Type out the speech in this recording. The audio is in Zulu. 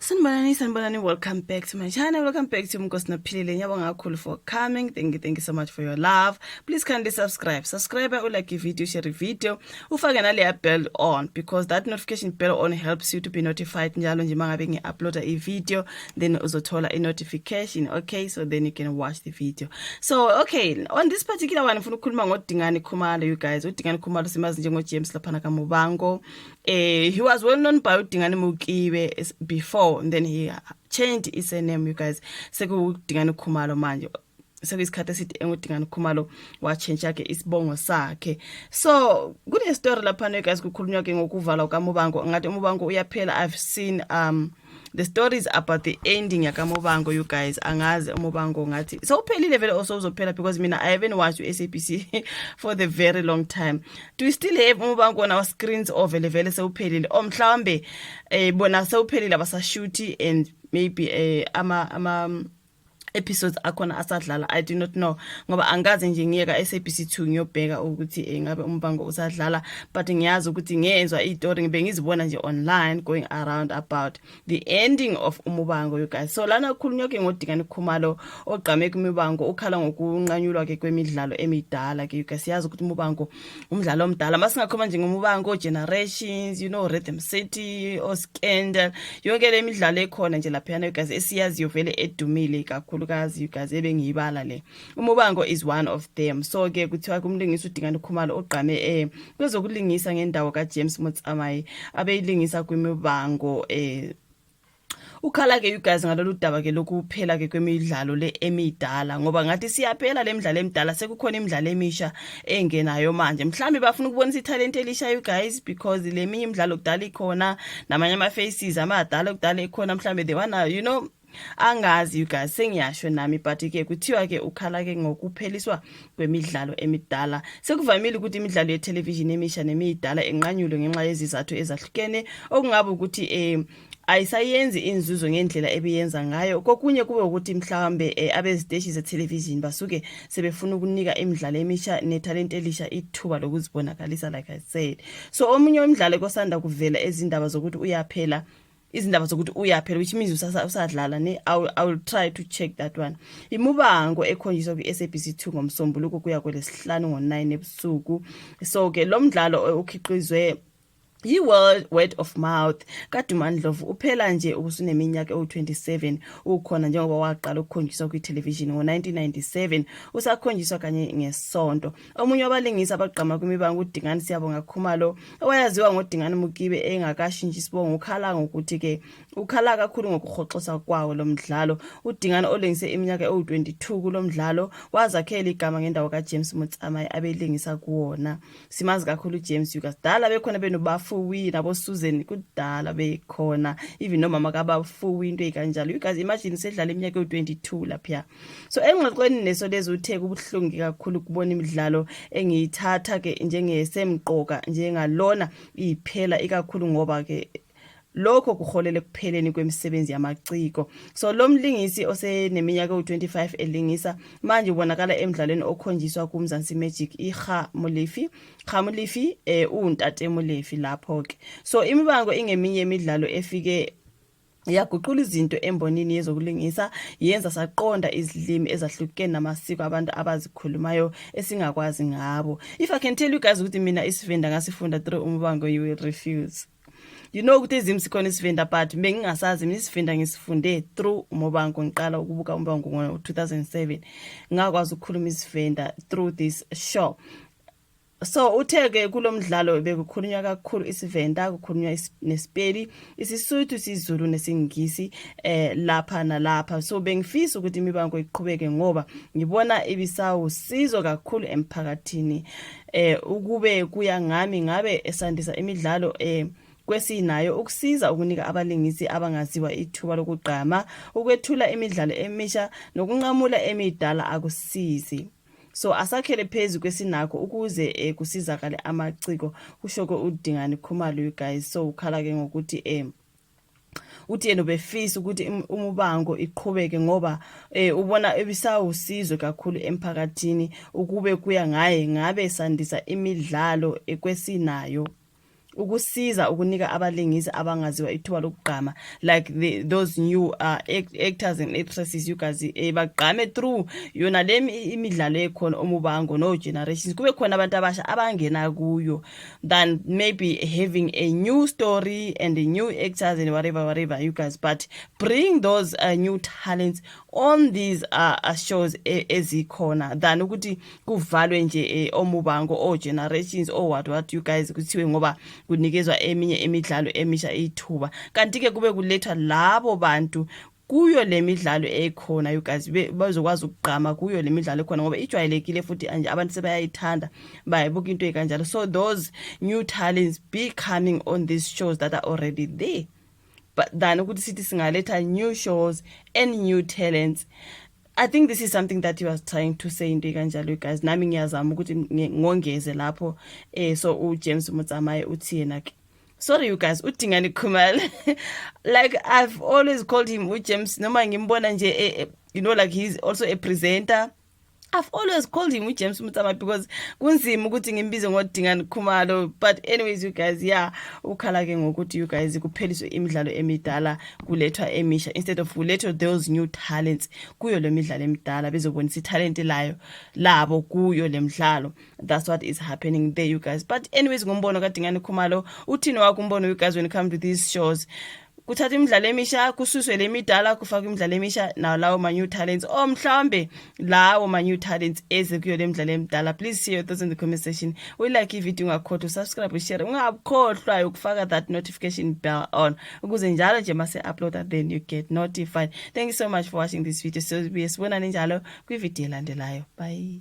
Sanibonani, sanibonani, welcome back to my channel, welcome back to Mkosina Philile, ngiyabonga kakhulu for coming, thank you, thank you so much for your love, please kindly subscribe, subscribe, u like video, share video, ufake naleya bell on, because that notification bell on helps you to be notified njalo nje mangabe ngi-uploada i-video, then uzothola i-notification, okay, so then you can watch the video. So, okay, on this particular one, ngifuna ukukhuluma ngoDingani Khumalo, you guys, uDingani Khumalo simazi njengo-James laphana kaMubango, Eh, he was well known by uDingane Mukibe before and then he changed his name you guys. SekuDingane Khumalo manje. sekuyisikhathi esithi engudingane khumalo watshintsha ke isibongo sakhe so kunestory laphana guys kukhulunywa ke ngokuvalwa kamubango ngathi umubango uyaphela i've seen um the story is about the ending yakamobango you guys angazi umobango ngathi sewuphelile vele also uzophela because mina i haven't watched u-sabc for the very long time do we still have umobango on our screens or vele vele sewuphelile or oh, mhlawumbe um eh, bona sewuphelile abasashuthi and maybe um ama, ama episodes akhona asadlala i do not know ngoba angikaze nje ngiye ka-sabc 2 ngiyobheka ukuthi eh, ngabe umbango usadlala but ngiyazi ukuthi ngiyenzwa iy'tori ngibe ngizibona nje online going around about the ending of umubango you guys so lana kukhulunywa ke ngodingane khumalo ogqame kumibango ukhala ngokunqanyulwa ke kwemidlalo emidala ke you guys siyazi ukuthi umubango umdlalo omdala masingakhoma nje ngomubango generations you know rhythm city oscandal yonke le midlalo ekhona nje laphayana you guys esiyaziyo vele edumile kakhulukazi you guys ebengiyibala le umubango is one of them so ke kuthiwa kumlingisi udingani ukhumalo ogqame eh kwezokulingisa ngendawo kajames motsamayi abeyilingisa kwimibango eh ukhala-ke you guys ngalolu daba ke lokuphela-ke kwemidlalo le emidala ngoba ngathi siyaphela le midlalo emidala sekukhona imidlalo emisha engenayo manje mhlawumbe bafuna ukubonisa ithalente elisha you guys because le minye imidlalo kudala ikhona namanye ama-faces amadala kudala ekhona mhlawumbe they wanna you know angazi you guys sengiyasho nami but ke kuthiwa ke ukhala ke ngokupheliswa kwemidlalo emidala sekuvamile ukuthi imidlalo yethelevishini emisha nemiyidala enqanyulwe ngenxa yezizathu ezahlukene okungaba ukuthi um ayisayenzi inzuzo ngendlela ebiyenza ngayo kokunye kube ukuthi mhlawumbe um abeziteshi zethelevishini basuke sebefuna ukunika imidlalo emisha nethalente elisha ithuba lokuzibonakalisa like i said so omunye wemidlalo kosanda kuvela ezindaba zokuthi uyaphela izindaba zokuthi uyaphela which means usadlala ne I will try to check that one imubango ekhonjiswa kwi-sabc 2 ngomsombuluko kuya kwelesihlanu ngo-9 ebusuku so ke lo mdlalo okhiqizwe Yi-World Word of Mouth kaDuma Ndlovu uphela nje ubusuneminyaka ewu-27 ukhona njengoba waqala ukukhonjiswa kwithelevishini ngo-1997 usakhonjiswa kanye ngesonto Omunye wabalingisi abagqama kwimibango uDingani Siyabonga Khumalo owayaziwa ngoDingani Mukibe engakashintshi isibongo ukhala ngokuthi ke ukhala kakhulu ngokuhoxosa kwawo lo mdlalo. UDingani olingise iminyaka ewu-22 kulo mdlalo wazakhela igama ngendawo kaJames Motsamai abelingisa kuwona. Simazi kakhulu uJames Yukas. Dala bekhona benobafuwi naboSusan kudala bekhona even nomama kabafuwi into ezikanjalo. Yukas imagine sedlala iminyaka ewu-22 lapha. so engxoxweni neso lezi uthe kubuhlungu kakhulu kubona imidlalo engiyithatha ke njengesemqoka njengalona iphela ikakhulu ngoba ke lokho kuholele kupheleni kwemisebenzi yamaciko so lo mlingisi oseneminyaka ewu-25 elingisa manje ubonakala emdlalweni okhonjiswa kumzansi magic iha mulifi ha mulifi um uwuntate mulifi lapho-ke so imibango ingeminye imidlalo efike yaguqula izinto embonini yezokulingisa yenza saqonda izilimi ezahlukene namasiko abantu abazikhulumayo esingakwazi ngabo if i can tell you guys ukuthi mina isivenda ngasifunda through umbango you will refuse you know ukuthi ezimu sikhona isivenda but bengingasazi mina isivenda ngisifunde through umobango ngiqala ukubuka umbango ngo-2007 ngakwazi ukukhuluma isivenda through this show so uthe-ke kulo mdlalo bekukhulunywa kakhulu isivenda kukhulunywa nesipeli isisuthu isizulu nesingisi eh lapha nalapha so bengifisa ukuthi imibango iqhubeke ngoba ngibona ibisawusizo kakhulu emphakathini eh ukube kuya ngami ngabe esandisa imidlalo eh kwesinayo ukusiza ukunika abalingisi abangaziwa ithuba lokugqama ukwethula imidlalo emisha nokunqamula emidala akusizi so asakhele phezu kwesinakho ukuze eh, kusizakale amaciko kusho ke udingani khumalo you guys so ukhala ke ngokuthi eh uthi yena ubefisa ukuthi umubango iqhubeke ngoba eh ubona ebisawusizo kakhulu emphakathini ukube kuya ngaye ngabe sandisa imidlalo ekwesinayo ukusiza ukunika abalingisi abangaziwa ithuba lokugqama like the, those new uh, actors and actresses you guys eh, bagqame through yona le imidlalo ekhona omubango no generations kube khona abantu abasha abangena kuyo than maybe having a new story and a new actors and whatever whatever you guys but bring those uh, new talents on these uh, uh shows e, ezikhona than ukuthi kuvalwe nje eh, omubango o-generations o-what what you guys kuthiwe ngoba kunikezwa eminye imidlalo emisha ithuba kanti-ke kube kulethwa labo bantu kuyo le midlalo ekhona you guys bazokwazi ukugqama kuyo le midlalo ekhona ngoba ijwayelekile futhi anje abantu sebayayithanda bayibuka into ekanjalo so those new talents be coming on these shows that are already there but than ukuthi sithi singaletha new shows and new talents I think this is something that he was trying to say into kanjalo guys nami ngiyazama ukuthi ngongeze lapho eh so u James Mutsamaye uthi yena ke sorry you guys udingani khumalo like i've always called him u James noma ngimbona nje eh, eh, you know like he's also a presenter I've always called him uJames Mutama because kunzima ukuthi ngimbize ngodingani khumalo but anyways you guys yeah ukhala ke ngokuthi you guys kupheliswe imidlalo emidala kulethwa emisha instead of kulethwe those new talents kuyo le midlalo emidala bezobonisa ithalente layo labo kuyo le mdlalo that's what is happening there you guys but anyways ngombono kadingane khumalo uthini wakho umbono you guys when it comes to these shows kuthatha imidlalo emisha kususwe le midala kufakwa imidlalo emisha nawo lawo ma-new talents or oh, mhlawumbe lawo ma-new talents eze kuyo le mdlalo emdala please share your thoughts in the comment section uyilike ivideo ungakhohlwa usubscribe ushare ungakhohlwa ukufaka that notification bell on ukuze njalo nje mase-uploada then you get notified thank you so much for watching this video sobuye sibonane njalo kwividiyo elandelayo bye